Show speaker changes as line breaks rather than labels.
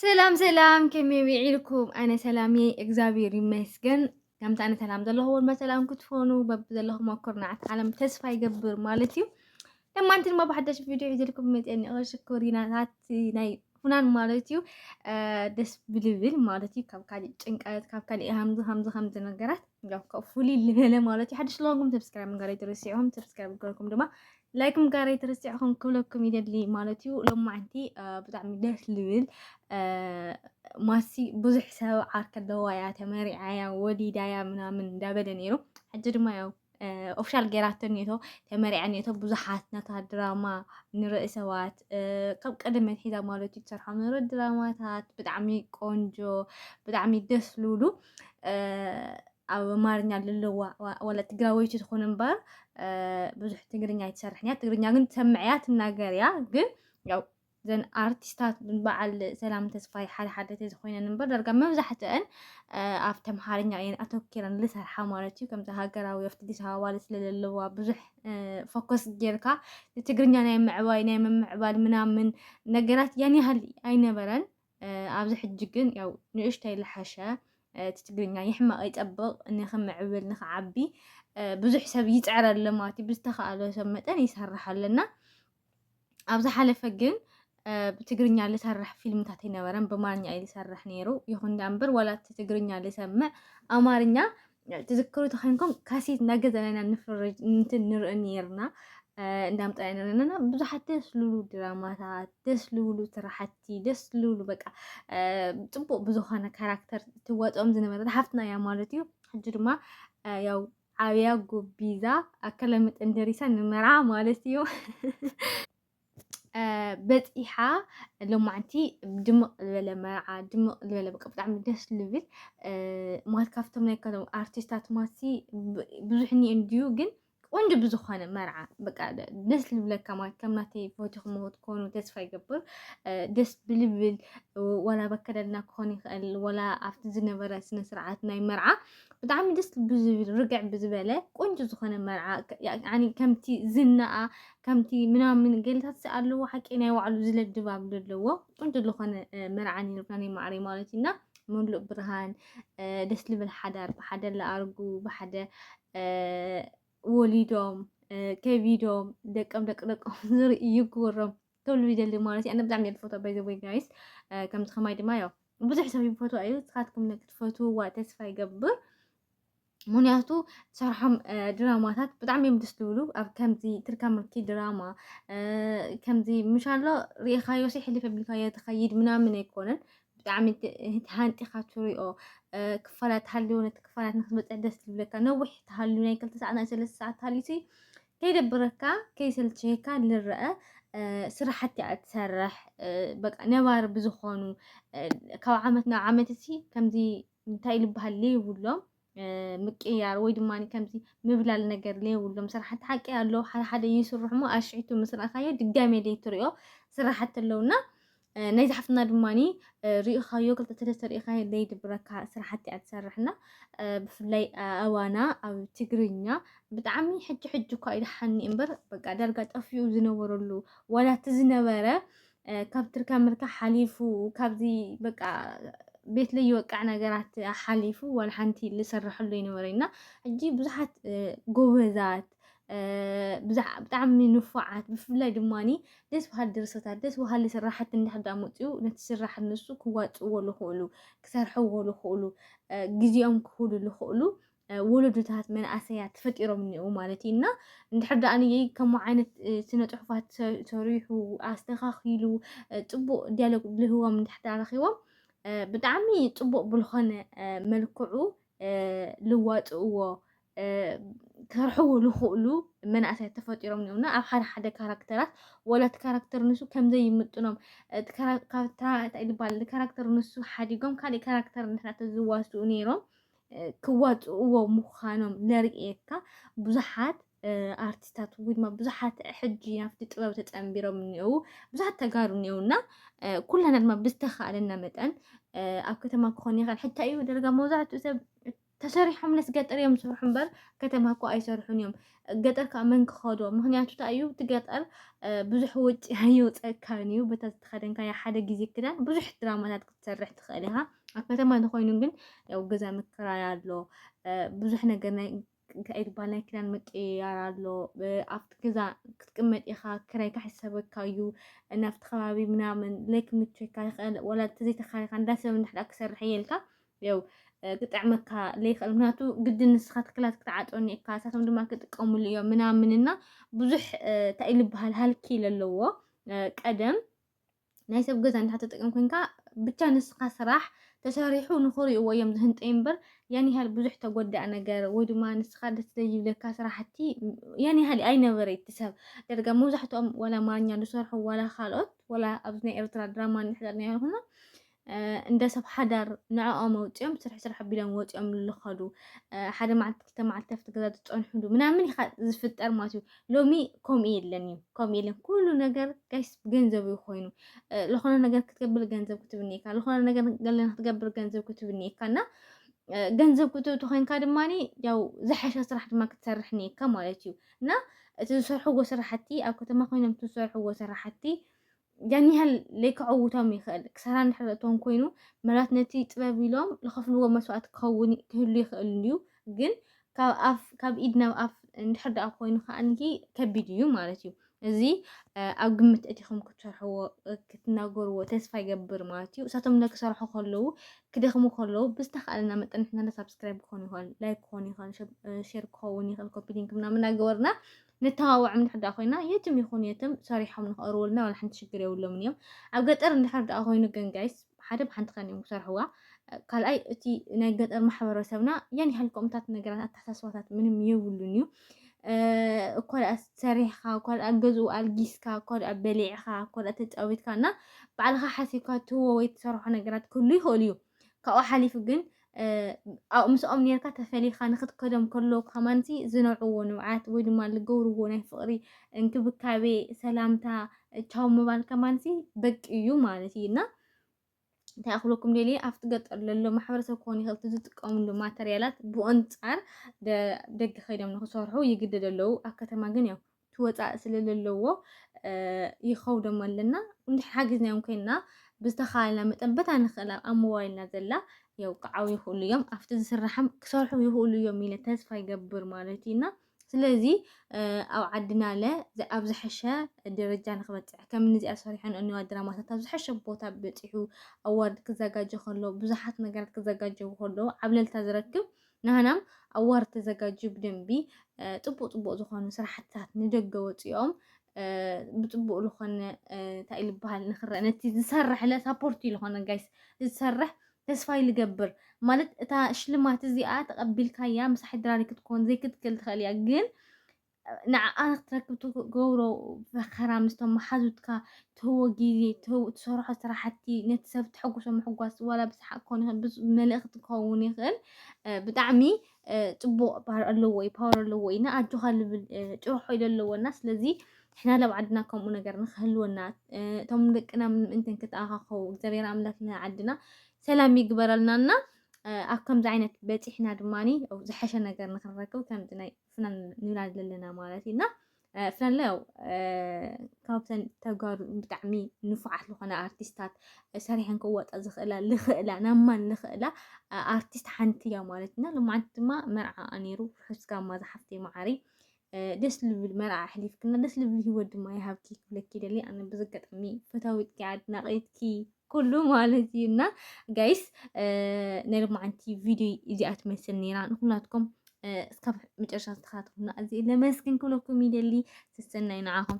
ሰላም ሰላም ከመይ ውዒልኩም ኣነ ሰላም እየ እግዚኣብሔር ይመስገን ከምቲ ኣነ ሰላም ዘለኹ ወልማ ሰላም ክትኾኑ በቢ ዘለኹም ኣኩርናዓት ዓለም ተስፋ ይገብር ማለት እዩ ለማ እንቲ ድማ ብሓደሽ ቪድዮ ሒዘልኩም መፅአ ንኦ ሽኮሪናታት ናይ ፉናን ማለት እዩ ደስ ብልብል ማለት እዩ ካብ ካሊእ ጭንቀት ካብ ካሊእ ሃምዚ ሃምዚ ከምዚ ነገራት ያው ካብ ፍሉይ ልበለ ማለት እዩ ሓደሽ ለኹንኩም ሰብስክራይብ ምግባር ኣይትረስዑም ሰብስክራይብ ገርኩም ድማ ላይክ ምጋረይ ተረሲዕኹም ክብለኩም ይደሊ ማለት እዩ ሎማዓንቲ ብጣዕሚ ደስ ልብል ማሲ ብዙሕ ሰብ ዓርከ ኣለዋ እያ ተመሪዓ እያ ወሊዳ እያ ምናምን እንዳበለ ነይሩ ሕጂ ድማ ያው ኦፍሻል ገይራቶ ኔቶ ተመሪዓ ኔቶ ብዙሓት ናታ ድራማ ንርኢ ሰባት ካብ ቀደም መትሒዛ ማለት እዩ ትሰርሖ ነሮ ድራማታት ብጣዕሚ ቆንጆ ብጣዕሚ ደስ ልብሉ ኣብ ኣማርኛ ልለዋ ዋላ ትግራወይቲ ትኹን እምበር ብዙሕ ትግርኛ ኣይትሰርሕን እያ ትግርኛ ግን ትሰምዕ እያ ትናገር እያ ግን ያው ዘን ኣርቲስታት በዓል ሰላም ተስፋይ ሓደ ሓደ ተዝኮይነን እምበር ዳርጋ መብዛሕትአን ኣብ ተምሃርኛ እየን ኣተኪረን ዝሰርሓ ማለት እዩ ከምዚ ሃገራዊ ኣብቲ ኣዲስ ኣበባ ስለዘለዋ ብዙሕ ፎከስ ጌርካ ንትግርኛ ናይ ምዕባይ ናይ ምምዕባል ምናምን ነገራት ያን ያህል ኣይነበረን ኣብዚ ሕጂ ግን ያው ንእሽተይ ልሓሸ እቲ ትግርኛ ይሕመቕ ይጸብቕ ንክምዕብል ንክዓቢ ብዙሕ ሰብ ይጽዕር ኣሎ ማለት እዩ ብዝተኸኣሎ ሰብ መጠን ይሰርሕ ኣለና ኣብ ዝሓለፈ ግን ብትግርኛ ልሰርሕ ፊልምታት ኣይነበረን ብማርኛ እዩ ልሰርሕ ነይሩ ይኹን ዳኣ እምበር ዋላ እቲ ትግርኛ ልሰምዕ ኣማርኛ ትዝክሩ ተኸንኩም ካሴት እናገዛና ኢና ንፍርጅ እንትን ንርኢ ነርና እንዳምጣና ኢና ንርና ብዙሓት ደስ ልብሉ ድራማታት ደስ ልብሉ ስራሕቲ ደስ ልብሉ በቃ ፅቡቅ ብዝኾነ ካራክተር ትዋፅኦም ዝነበረት ሓፍትና እያ ማለት እዩ ሕጂ ድማ ያው ዓብያ ጉቢዛ ኣከለ መጠን ደሪሳ ንመርዓ ማለት እዩ በፂሓ ሎማዕንቲ ድምቕ ዝበለ መርዓ ድምቕ ዝበለ በቃ ብጣዕሚ ደስ ልብል ማለት ካብቶም ናይ ከሎም ኣርቲስታት ማሲ ብዙሕ እኒ እንድዩ ግን ቆንጆ ብዝኾነ መርዓ በቃ ደስ ልብለካ ማለት ከም ናተይ ፈትኹም ትኮኑ ተስፋ ይገብር ደስ ብልብል ወላ በከደልና ክኾን ይኽእል ወላ ኣብቲ ዝነበረ ስነ ስርዓት ናይ መርዓ ብጣዕሚ ደስ ብዝብል ርግዕ ብዝበለ ቆንጆ ዝኾነ መርዓ ከምቲ ዝናኣ ከምቲ ምናምን ገለታት ኣለዎ ሓቂ ናይ ባዕሉ ዝለ ድባብ ዘለዎ ቁንጭ ዝኾነ መርዓ ነርካ ናይ ማዕሪ ማለት እዩና ምሉእ ብርሃን ደስ ልብል ሓዳር ብሓደ ለኣርጉ ብሓደ ወሊዶም ከቢዶም ደቀም ደቂ ደቆም ዝርኢ ይግበሮም ተብሉ ይደሊ ማለት እዩ ኣነ ብጣዕሚ እየ ዝፈትዎ ባይዘወይ ጋይስ ከምዚ ከማይ ድማ ያው ብዙሕ ሰብ ይፈትዋ እዩ ንስኻትኩም ክትፈትውዋ ተስፋ ይገብር ምክንያቱ ትሰርሖም ድራማታት ብጣዕሚ እዮም ደስ ዝብሉ ኣብ ከምዚ ትርካ ምርኪ ድራማ ከምዚ ምሻሎ ርኢኻዮ ሲ ሕልፍ ኣቢልካዮ ትኸይድ ምናምን ኣይኮነን ብጣዕሚ ሃንጢኻ ትሪኦ ክፋላት ሃልዮ ነቲ ክፋላት ንክትበፅሕ ደስ ዝብለካ ነዊሕ ተሃልዩ ናይ ክልተ ሰዓት ናይ ሰለስተ ሰዓት ተሃልዩ ሲ ከይደብረካ ከይሰልችየካ ልረአ ስራሕቲ እያ ትሰርሕ በቃ ነባሪ ብዝኾኑ ካብ ዓመት ናብ ዓመት እሲ ከምዚ እንታይ ልበሃል ለይብሎም ምቅያር ወይ ድማ ከምዚ ምብላል ነገር ለይብሎም ስራሕቲ ሓቂ ኣለዉ ሓደ ሓደ ይስርሑ እሞ ኣሽዒቱ ምስ ረኣኻዮ ድጋሜ ለይትሪኦ ስራሕቲ ኣለዉና ናይ ዝሓፍትና ድማኒ ሪኢኻዮ ክልተ ሰለስተ ሪኢኻዮ ለይድብረካ ስራሕቲ እያ ትሰርሕና ብፍላይ ኣዋና ኣብ ትግርኛ ብጣዕሚ ሕጂ ሕጂ እኳ ኢልሓኒ እምበር በቃ ዳርጋ ጠፊኡ ዝነበረሉ ዋላ እቲ ዝነበረ ካብ ትርካ ምርካ ሓሊፉ ካብዚ በቃ ቤት ለይወቃዕ ነገራት ሓሊፉ ዋላ ሓንቲ ዝሰረሐሉ ይነበረ እና ሕጂ ብዙሓት ጎበዛት ብጣዕሚ ንፉዓት ብፍላይ ድማኒ ደስ በሃሊ ድርሰታት ደስ በሃሊ ስራሕቲ እንድሕር ዳ መፅኡ ነቲ ስራሕ ንሱ ክዋፅእዎ ዝኽእሉ ክሰርሕዎ ዝኽእሉ ግዜኦም ክህሉ ዝኽእሉ ወለዶታት መናእሰያት ተፈጢሮም እኒአው ማለት እዩ እና እንድሕር ደኣ ከምኡ ዓይነት ስነ ፅሑፋት ሰሪሑ ኣስተኻኺሉ ፅቡቅ ዲያሎግ ልህቦም እንድሕር ደኣ ረኪቦም ብጣዕሚ ፅቡቅ ብልኾነ መልክዑ ልዋፅእዎ ክሰርሕዎ ዝኽእሉ መናእሰያት ተፈጢሮም እኒኦና ኣብ ሓደ ሓደ ካራክተራት ወላ እቲ ካራክተር ንሱ ከምዘይ ይምጥኖም ካብታ እንታይ ዝበሃል ካራክተር ንሱ ሓዲጎም ካልእ ካራክተር እንድሕር ተዝዋስኡ ነይሮም ክዋፅእዎ ምዃኖም ለርእየካ ብዙሓት ኣርቲስታት ወይ ድማ ብዙሓት ሕጂ ናብቲ ጥበብ ተፀንቢሮም እኒአው ብዙሓት ተጋሩ እኒአውና ኩላና ድማ ብዝተኻእለና መጠን ኣብ ከተማ ክኾን ይኽእል ሕታ እዩ ደረጋ መብዛሕትኡ ሰብ ተሰሪሖም ነስ ገጠር እዮም ዝሰርሑ እምበር ከተማ እኮ ኣይሰርሑን እዮም ገጠር ከዓ መን ክኸዶ ምክንያቱ እታ እዩ እቲ ገጠር ብዙሕ ወጪ ኣይወፀካን እዩ በታ ዝተኸደንካዮ ሓደ ግዜ ክዳን ብዙሕ ድራማታት ክትሰርሕ ትኽእል ኢኻ ኣብ ከተማ እንተኮይኑ ግን ያው ገዛ ምክራይ ኣሎ ብዙሕ ነገር ናይ እንታይ ዝበሃል ናይ ክዳን ምቅይያር ኣሎ ኣብቲ ገዛ ክትቅመጥ ኢኻ ክራይ ካሕሰበካ እዩ ናብቲ ከባቢ ምናምን ለይ ክምቸካ ይኽእል ወላ ተዘይተኻሪኻ እንዳሰብ እንድሕዳ ክሰርሕ እየልካ ያው ክጥዕመካ ለይኽእል ምክንያቱ ግድን ንስኻ ትክላት ክትዓጦኒ እካ እሳቶም ድማ ክጥቀሙሉ እዮም ምናምን እና ብዙሕ እንታይ ልበሃል ሃልኪ ለለዎ ቀደም ናይ ሰብ ገዛ እንዳተጠቀም ኮንካ ብቻ ንስኻ ስራሕ ተሰሪሑ ንኽሪእዎ እዮም ዝህንጠዩ እምበር ያን ያህል ብዙሕ ተጎዳእ ነገር ወይ ድማ ንስኻ ደስ ዘይብለካ ስራሕቲ ያን ያህል ኣይነበረ ይትሰብ ደርጋ መብዛሕትኦም ዋላ ኣማርኛ ዝሰርሑ ዋላ ካልኦት ዋላ ኣብዚ ናይ ኤርትራ ድራማ ንሕዘር ናይ ይኹና እንደ ሰብ ሓዳር ንዕኦም ኣውፂኦም ስራሕ ስራሕ ኣቢሎም ወፂኦም ዝኸዱ ሓደ መዓልቲ ክልተ መዓልቲ ኣብቲ ገዛ ዝፀንሑሉ ምናምን ኢኻ ዝፍጠር ማለት እዩ ሎሚ ከምኡ የለን እዩ ከምኡ የለን ኩሉ ነገር ጋይስ ገንዘብ እዩ ኮይኑ ዝኾነ ነገር ክትገብር ገንዘብ ክትብኒ ኢካ ዝኾነ ነገር ገለ ክትገብር ገንዘብ ክትብኒ ኢካ እና ገንዘብ ክትእቱ ኮይንካ ድማ ያው ዝሓሸ ስራሕ ድማ ክትሰርሕ ኒካ ማለት እዩ እና እቲ ዝሰርሕዎ ስራሕቲ ኣብ ከተማ ኮይኖም እቲ ዝሰርሕዎ ስራሕቲ ያን ያህል ለይከዐውቶም ይኽእል ክሳራ እንድሕረቶም ኮይኑ ምናልባት ነቲ ጥበብ ኢሎም ዝኸፍልዎ መስዋእቲ ክኸውን ክህሉ ይኽእል እዩ ግን ካብ ኣፍ ካብ ኢድ ናብ ኣፍ እንድሕር ደኣ ኮይኑ ከዓንኪ ከቢድ እዩ ማለት እዩ እዚ ኣብ ግምት እቲኹም ክትሰርሕዎ ክትናገርዎ ተስፋ ይገብር ማለት እዩ እሳቶም ክሰርሑ ከለዉ ክደኽሙ ከለዉ ብዝተኻእለና መጠን ንሕና ሳብስክራይብ ክኾን ይኽእል ላይክ ክኾን ይኽእል ሼር ክኸውን ይኽእል ኮፒ ሊንክ ምናምን እናገበርና ንተባባዕ እንድሕር ድኣ ኮይና የትም ይኹን የትም ሰሪሖም ንክቕርቡልና ዋላ ሓንቲ ሽግር የብሎምን እዮም። ኣብ ገጠር እንድሕር ድኣ ኮይኑ ግን ጋይስ ሓደ ብሓንቲ ከን እዮም ክሰርሕዋ። ካልኣይ እቲ ናይ ገጠር ማሕበረሰብና ያን ያህል ከምኡታት ነገራት ኣተሓሳስባታት ምንም የብሉን እዩ። እኳ ደኣ ሰሪሕካ እኳ ደኣ ገዝኡ ኣልጊስካ እኳ ደኣ በሊዕካ እኳ ደኣ ተጫዊትካ እና ባዕልካ ሓሲብካ ትህቦ ወይ ትሰርሖ ነገራት ክህሉ ይኽእል እዩ ካብኡ ሓሊፉ ግን ምስኦም ኔርካ ተፈሊኻ ንክትከዶም ከሎ ከማንሲ ዝነውዕዎ ንብዓት ወይ ድማ ዝገብርዎ ናይ ፍቕሪ እንክብካቤ፣ ሰላምታ፣ ቻው ምባል ከማንሲ በቂ እዩ ማለት እዩ እና እንታይ ክብለኩም ደልየ ኣብቲ ገጠር ዘሎ ማሕበረሰብ ክኾን ይኽእል እቲ ዝጥቀምሉ ማተርያላት ብኣንፃር ደገ ከይዶም ንክሰርሑ ይግደዱ ኣለዉ ኣብ ከተማ ግን ያው ትወጻእ ስለለለዎ ይኸውደሞ ኣለና እንድሕ ሓጊዝናዮም ኮይንና ብዝተኻልና መጠን በታ ንኽእላ ኣብ ሞባይልና ዘላ የውቅዓው ይኽእሉ እዮም ኣብቲ ዝስራሕም ክሰርሑ ይኽእሉ እዮም ኢለ ተስፋ ይገብር ማለት እዩና ስለዚ ኣብ ዓድና ለ ኣብ ዝሐሸ ደረጃ ንክበፅሕ ከም ንዚኣ ሰሪሖን እኒዋ ድራማታት ኣብ ዝሐሸ ቦታ በፂሑ ኣዋርድ ክዘጋጀ ከሎ ብዙሓት ነገራት ክዘጋጀው ከሎ ዓብለልታ ዝረክብ ናህናም ኣዋርድ ተዘጋጅዩ ብደንቢ ፅቡቅ ፅቡቅ ዝኾኑ ስራሕትታት ንደገ ወፂኦም ብፅቡቅ ዝኾነ እንታይ እዩ ዝበሃል ንክረአ ነቲ ዝሰርሕ ለ ሳፖርት እዩ ዝኾነ ጋይስ ዝሰርሕ ተስፋ ይልገብር ማለት እታ ሽልማት እዚኣ ተቐቢልካያ ምሳሕ ድራሪ ክትኮን ዘይክትክል ትኽእል እያ ግን ንዓኣ ክትረክብ ትገብሮ ፈኸራ ምስቶም መሓዙትካ ትህቦ ግዜ ትሰርሖ ስራሕቲ ነቲ ሰብ ተሐጉሶ ምሕጓስ ዋላ ብሰሓቅ ክኸውን ይኽእል ብመልእኽቲ ክኸውን ይኽእል ብጣዕሚ ፅቡቅ ባህር ኣለዎ እዩ ፓወር ኣለዎ እዩ እና ኣጆኻ ልብል ጭርሖ ኢለ ኣለዎ እና ስለዚ ንሕና ላብ ዓድና ከምኡ ነገር ንክህልወና እቶም ደቅና ምእንተን ክተኣኻኸቡ እግዚኣብሔር ኣምላክ ንዓድና ሰላም ይግበረልና እና ኣብ ከምዚ ዓይነት በፂሕና ድማኒ ዝሐሸ ነገር ንክንረክብ ከምዚ ናይ ፍናን ንብል ኣለና ማለት እዩ እና ፍናንለ ያው ካብተን ተጋሩ ብጣዕሚ ንፉዓት ዝኾነ ኣርቲስታት ሰሪሐን ክወጣ ዝኽእላ ልኽእላ ናብ ማን ልኽእላ ኣርቲስት ሓንቲ እያ ማለት እና ልማዓንቲ ድማ መርዓ ነይሩ ርሑስ ጋማ ዝሓፍቲ መዓሪ ደስ ልብል መርዓ ኣሕሊፍክና ደስ ልብል ሂወት ድማ ይሃብኪ ክብለኪ ደሊ ኣነ ብዘጋጣሚ ፈታዊትኪ ኣድናቂትኪ ኩሉ ማለት እዩ እና ጋይስ ናይ ሎማዓንቲ ቪድዮ እዚኣ ትመስል ነይራ ንኩላትኩም እስካብ መጨረሻ ዝተኸታተሉና ኣዝየ ለመስግን ክብለኩም ይደሊ ሰሰናይ ንዓኹም